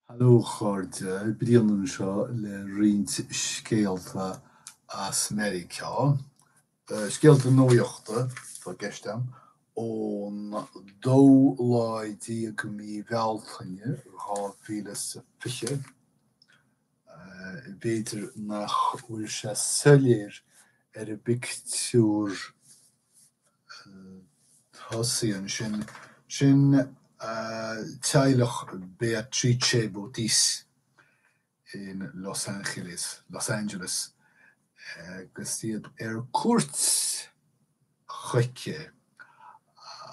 Haló a chairde, Brian anseo le roinnt scéalta as Meiriceá. Scéalta nuachta atá i gceist agam, ón dóú lá déag mí Bhealtaine 2020. B'fhéidir nach bhfuil sé soiléir ar an bpictiúr, Tosaíonn sin. Sin é teaghlach Beatrice Botis in Los Angeles, Los Angeles, agus iad ar cuairt chuici,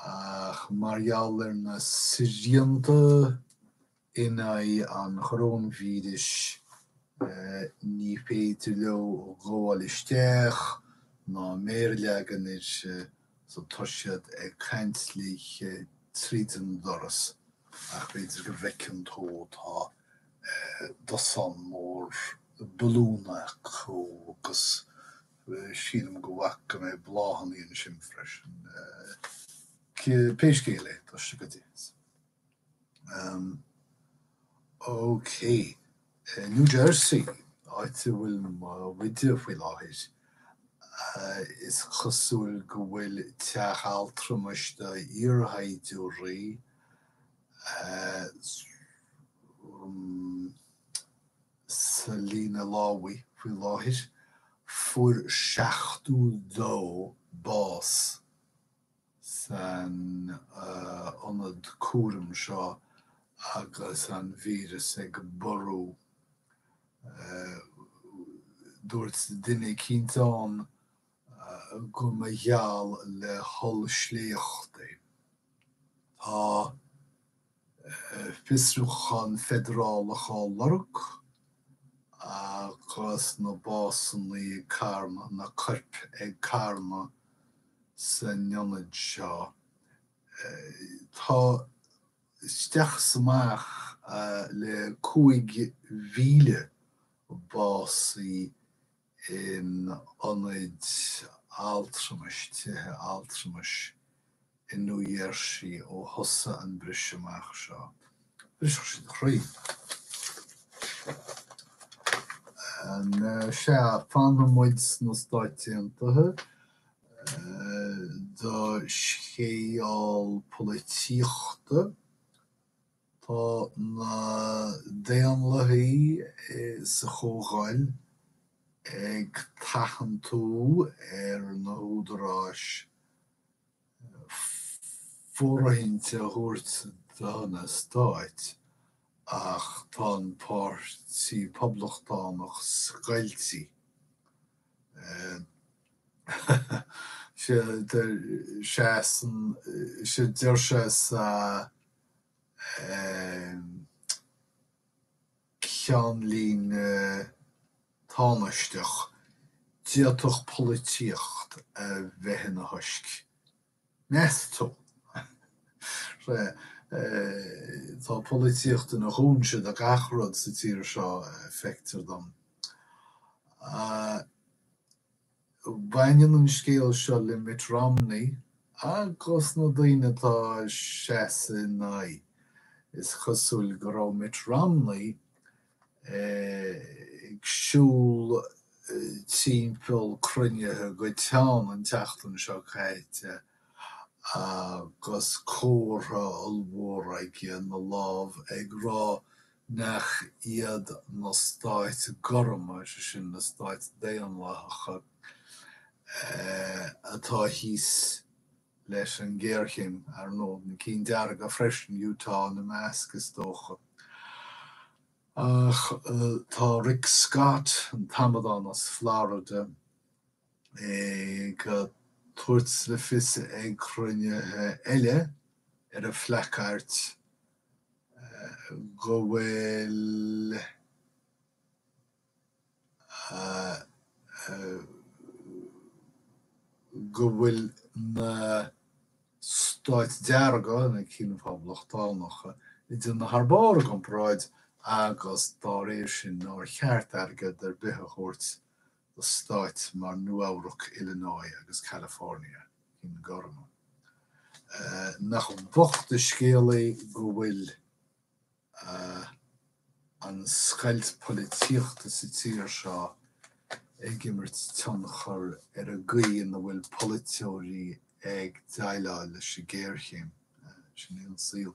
ach mar gheall ar na srianta, In aghaidh an choróinvíris, ní féidir leo gabháil isteach ná méar a leagan uirthi so tá siad ag caint léi tríd an doras ach b'fhéidir go bhfeiceann tú tá dosaen mór balún acu agus sílim go bhfaca go mbeadh bláthanna ansin freisin. Pé scéal é, tá sé go deas. OK. I New Jersey, áit a bhfuil muide faoi láthair, is cosúil go bhfuil teach altramais do iarshaighdiúirí sa líne lámhaigh faoi láthair. Fuair 72 bás san ionad cúraim seo agus an víreas ag borradh. Dúirt duine eicínt ann go mba gheall le hollsléacht é. Tá fiosrúchán feidearálach á lorg agus na básanna ag carnadh, na coirp ag carnadh san ionad seo. Tá isteach is amach le 5,000 básaithe in ionaid altramais, tithe altramais i New Jersey ó thosaigh an briseadh amach seo. Bhrisfeadh sé do chroí. Anois ea, fanfaidh muid sna Stáit Aontaithe do scéal polaitíochta. Tá na Daonlathaí sa Chomhdháil ag tathantú ar na húdaráis fóirithint a thabhairt do na Stáit ach tá an Páirtí Poblachtánach scoilte. Sea, deir sé sa. ceannlíne tánaisteach, d'fhéadfadh polaitíocht a bheith ina thoisc, meas tú? Sea, tá polaitíocht ina chúinse do gach rud sa tír seo, feictear dom. Baineann an scéal seo le Mitt Romney agus na daoine atá ag seasamh ina aghaidh. Is cosúil go raibh Mitt Romney ag siúl timpeall cruinnithe go teann an tseachtain seo caite agus comhartha ollmhór aige ina lámh ag rá Nach iad na stáit gorma, mar sin, na stáit daonlathacha, atá thíos leis an ghéarchéim, ar ndóigh? Na cinn dearga freisin, Utah ina measc, is dócha. Ach tá Rick Scott, an t-amadán as Florida, ag tabhairt le fios ag cruinnithe eile ar a phlaiceaird go bhfuil go bhfuil na Stáit Dearga, na cinn Phoblachtánacha, ag déanamh thar barr i gcomparáid agus dá réir sin nár cheart airgead ar bith a thabhairt do stáit mar Nua-Eabhrac, Illinois agus California, cinn ghorma. Nach bocht an scéal é go bhfuil an scoilt polaitíochta sa tír seo ag imirt tionchar ar an gcaoi ina bhfuil polaiteoirí ag déileáil leis an ghéarchéim. Sin é an saol.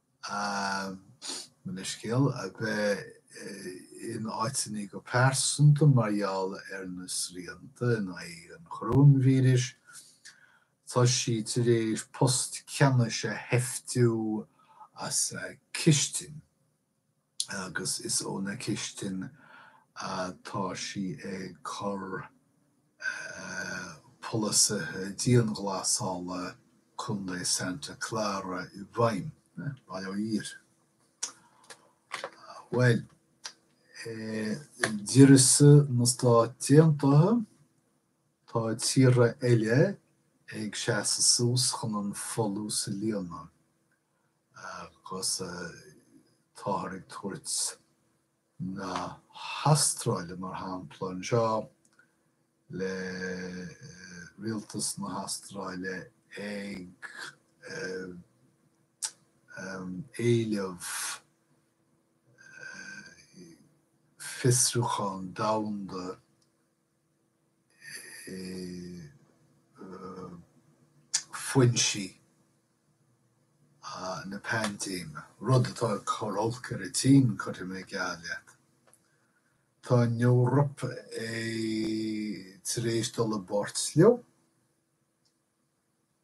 mo leithscéal, a bheith in áiteanna go pearsanta mar gheall ar na srianta in aghaidh an choróinvíris, tá sí tar éis post ceannais a sheiftiú as a cistin. agus is óna cistin atá sí ag cur polasaithe dianghlasála Contae Santa Clara i bhfeidhm. Bail ó Dhia. Bhuel, d'uireasa na Stát Aontaithe, tá tíortha eile ag seasamh suas chun an folús a líonadh. agus táthar ag tabhairt na hAstráile mar shampla anseo le rialtas na hAstráile ag éileamh fiosrúchán domhanda foinsí na paindéime, rud atá ag cur olc ar an tSín, cuirfidh mé geall leat. Tá an Eoraip tar éis dul i bpáirt leo.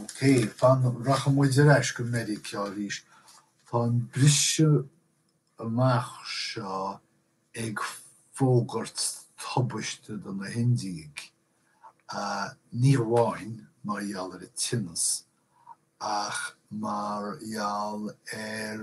OK, fan, rachaidh muid ar ais go Meiriceá arís. Tá an briseadh amach seo ag fógairt tubaiste do na hIndiaigh, ní hamháin mar gheall ar an tinneas, ach mar gheall ar.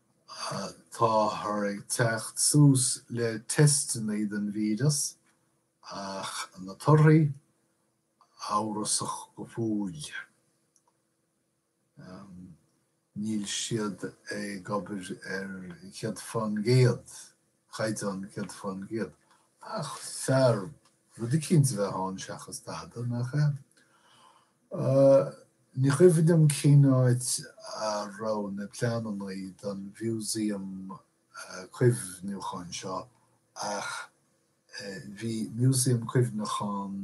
Táthar ag teacht suas le teisteanna don víreas ach na torthaí amhrasach go fóill. Níl siad ag obair céad fán gcéad. chaighdeán céad fán gcéad. Ach fearr rud eicínt a bheith ann seachas dada, nach ea? Ní cuimhin liom cén áit a raibh na pleananna don mhúsaeum cuimhneacháin seo ach bhí músaeum cuimhneacháin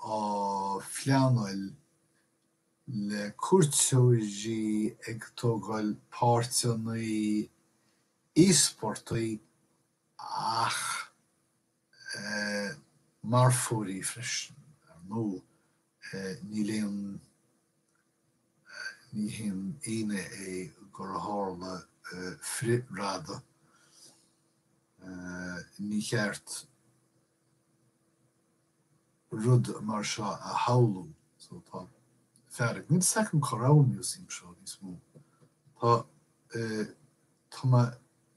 á phleanáil, le cuairteoirí ag tógáil páirteannaí íospartaigh ach marfóirí freisin. Ar ndóigh, níl aon, ní haon ionadh é gur tharla frith-radadh. Níor cheart. rud mar seo a shamhlú. So tá fearg níl second chorr an museum seo níos mó. Tá eh tá mé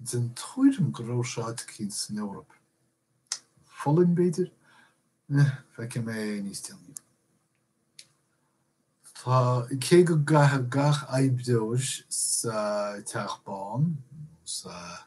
den tuairim go raibh sé áit éigin san Eoraip. An Pholainn b'fhéidir? Eh feicfidh mé é níos déanaí. Tá cé go gcaithfidh gach oibreoir sa Teach Bán nó sa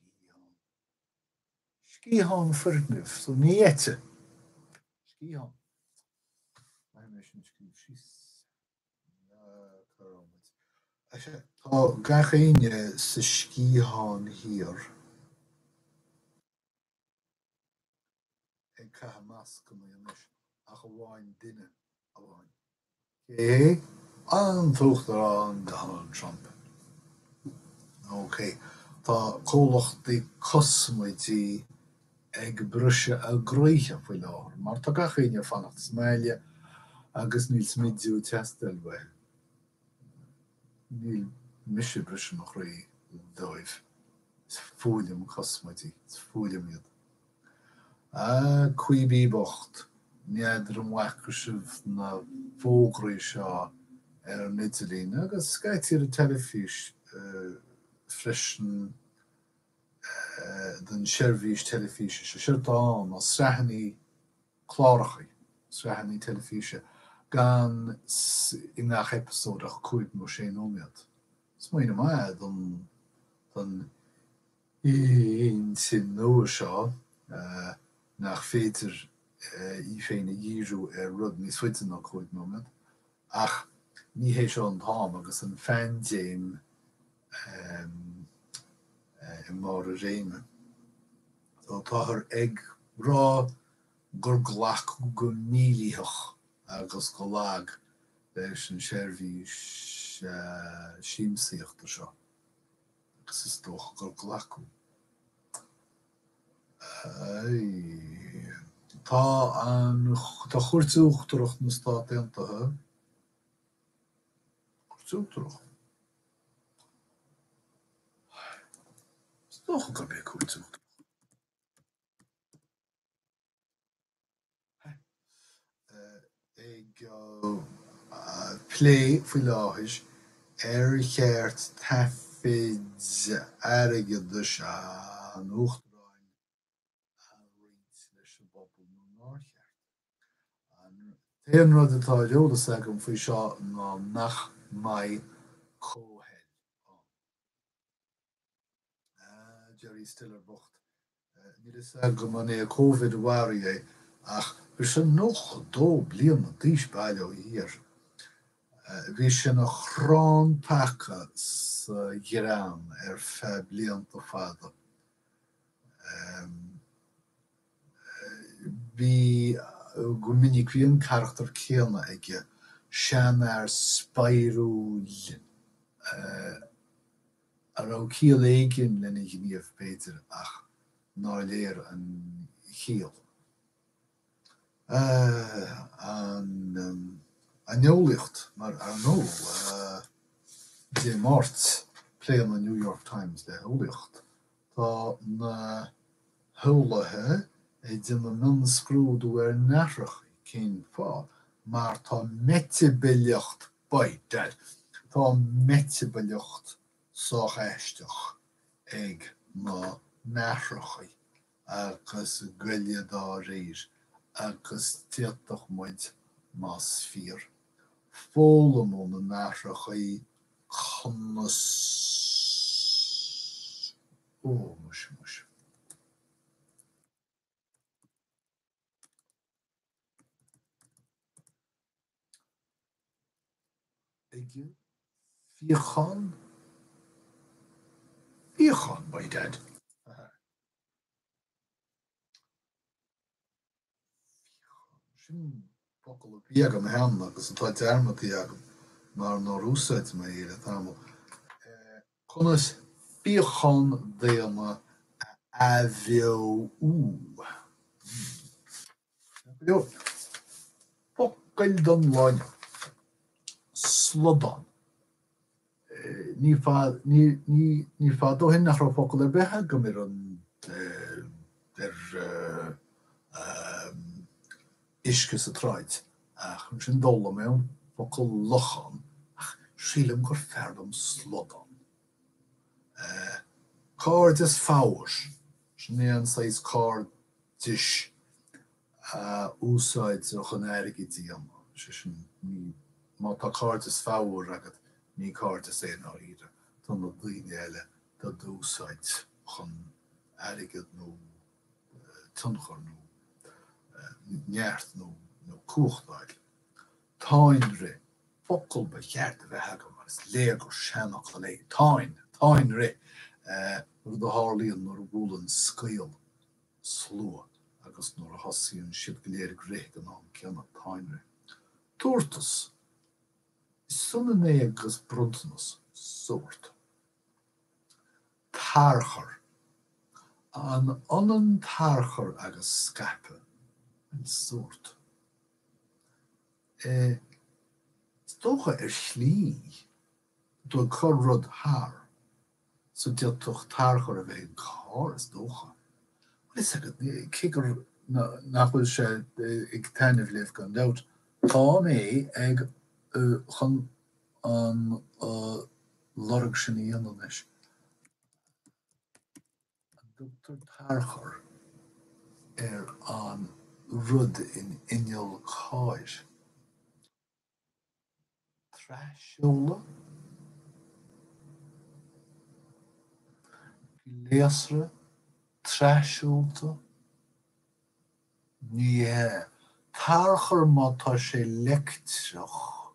sciathán, Sciathán foirgnimh so ní eite, sciathán, Maith mé sin scríobh síos Ná cur ort muid, sea, tá gach éinne sa sciathán thiar. ag caitheamh mascanna anois ach amháin duine amháin, cé hé? An tUachtarán Donald Trump. OK, tá comhlachtaí cosmaidí ag briseadh a gcroíthe faoi láthair mar tá gach éinne ag fanacht sa mbaile agus níl smidiú ag teastáil uathu. Níl mise ag briseadh mo chroí dóibh, is fuath liom cosmaidí, is fuath liom iad. Á Quibi bocht, n'fheadar an bhfaca sibh na fógraí seo ar an idirlíon agus scaití ar an teilifís freisin, don seirbhís teilifíse seo. Seo dán, nó sraitheanna cláracha, sraitheanna teilifíse gan i ngach eipeasóid ach cúig nó sé nóiméad. Smaoineamh maith é don intinn nua seo nach féidir í féin a dhíriú ar rud níos faide ná cúig nóiméad, ach ní hé seo an t-am agus an phaindéim. amh i mbarr a réime. So táthar ag rá gur glacadh go mílítheach agus go lag leis an seirbhís siamsaíochta seo, agus is dócha gur glacadh. Tá an, tá Cúirt Uachtarach na Stát Aontaithe, Cúirt Uachtarach? Is dócha gurb é cúirt an Ag plé faoi láthair ar cheart taifid airgeadais an Uachtaráin a roinnt leis an bpobal nó nár cheart. An t-aon rud atá ar eolas agam faoi seo ná nach mbeidh comhthoil ann. Ah, Jerry Stiller bocht. Níl fhios agam an é Covid a mharaigh é ach bhí sé 92 bliana d'aois, bail ó Dhia air. Bhí sé ina chrann taca sa ghreann ar feadh blianta fada. Bhí, go minic, bhí an carachtar céanna aige, seanfhear spéisiúil a raibh ciall éigin lena ghníomh, b'fhéidir, ach nár léir an chiall. an eolaíocht mar earnáil. Dé Máirt, pléann an New York Times le heolaíocht. Tá na heolaithe ag déanamh mionscrúdú ar nathracha. Cén fáth? Mar tá meitibileacht bite. Tá an mheitibileacht sách aisteach ag na nathracha. agus goile dá réir, agus d'fhéadfadh muid, más fíor, foghlaim ó na nathracha conas Ó, muise, muise. Ligeann fíochán fíochán, my dad. Fíochán, sin focal a bhí agam cheana agus atá dearmadta agam mar nár úsáid mé é le tamall. Conas fíochán daonna a athbheochan? Focail don lá inniu. Slodán. Ní fada ó shin nach raibh focal ar bith agam ar an uisce sa tsráid, ach ansin d'fhoghlaim mé an focal lochán ach sílim gur fearr liom slodán. Eh, cairdeas fabhair, sin é an saghas cairdis a úsáidtear chun airgead a dhéanamh, is é sin, ní, má tá cairdeas fabhair agat, ní cairdeas é i ndáiríre, tá na daoine eile do d'úsáid chun airgead nó. tionchar nó neart nó cumhachtáil. Táinrith, focal ba cheart a bheith agam mar is léir gur seanfhocal é táin, táinrith, rud a tharlaíonn nuair a bhuaileann scaoll slua agus nuair a thosaíonn siad go léir ag rith ag an am céanna, táinrith. Tabhartas, is ionann é agus bronntanas, sórt. Tarchur. An ionann tarchur agus scaipeadh? Bhuel, sórt. Eh, is dócha, ar shlí, tú ag cur rud thar. So, d'fhéadfadh tarchur a bheith ag carr, is dócha. Wait a second, cé gur, nach bhfuil sé ag taitneamh libh, gan dabht, tá mé ag, chun an, lorg sin a dhéanamh anois an dtugtar tarchur ar an rud in inneall cairr tras-seoladh gléasra tras-seolta ní hea tarchur má tá sé leictreach.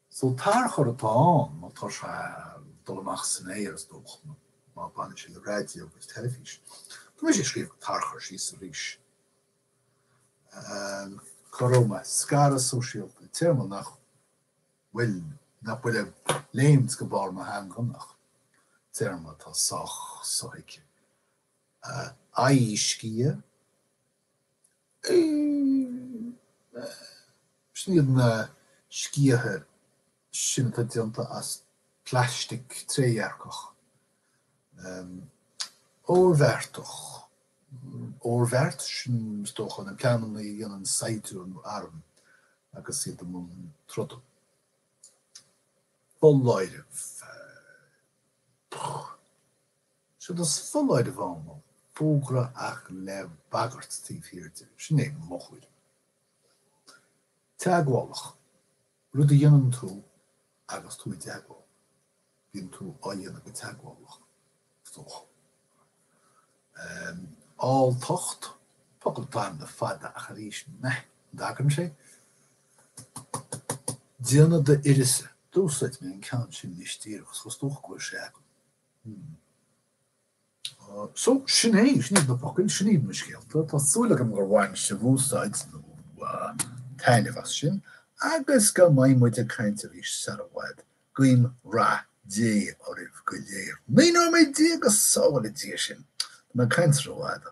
So tarchur atá ann, má tá sé ag dul amach san aer, is dócha, nó má bhaineann sé le raidió agus teilifís. Tá mise ag scríobh an tarchur síos arís. Go raibh maith. Scaradh sóisialta, téarma nach bhfuil, nach bhfuil ag léimt go barr mo theanga ach téarma atá sách sothuigthe. Aghaidhsciath. Sin iad na sciatha sin atá déanta as plaistic trédhearcach, oirbheartach, oirbheart, sin is dócha na pleananna a dhéanann saighdiúir nó arm agus iad i mbun troda. Foláireamh. Séard is foláireamh ann ná fógra ach le bagairt taobh thiar de, sin é mo thuairim. Teagmhálach, rud a dhéanann tú agus tú i dteagmháil, bíonn tú á dhéanamh go teagmhálach, is dócha. Alltacht, focal atá ann le fada ach arís meh, an dtagann sé? Déanamh d'uireasa, d'úsáid mé an ceann sin anois díreach agus is dócha go bhfuil sé agam. Hm. So, sin é, sin iad na focail, sin iad na scéalta, tá súil agam gur bhain sibh úsáid nó taitneamh as sin agus go mbeidh muid ag caint arís sar i bhfad. Guím rath Dé oraibh go léir. Naoi nóiméad déag, go sábhála Dia sinn! Tá mé ag caint rófhada.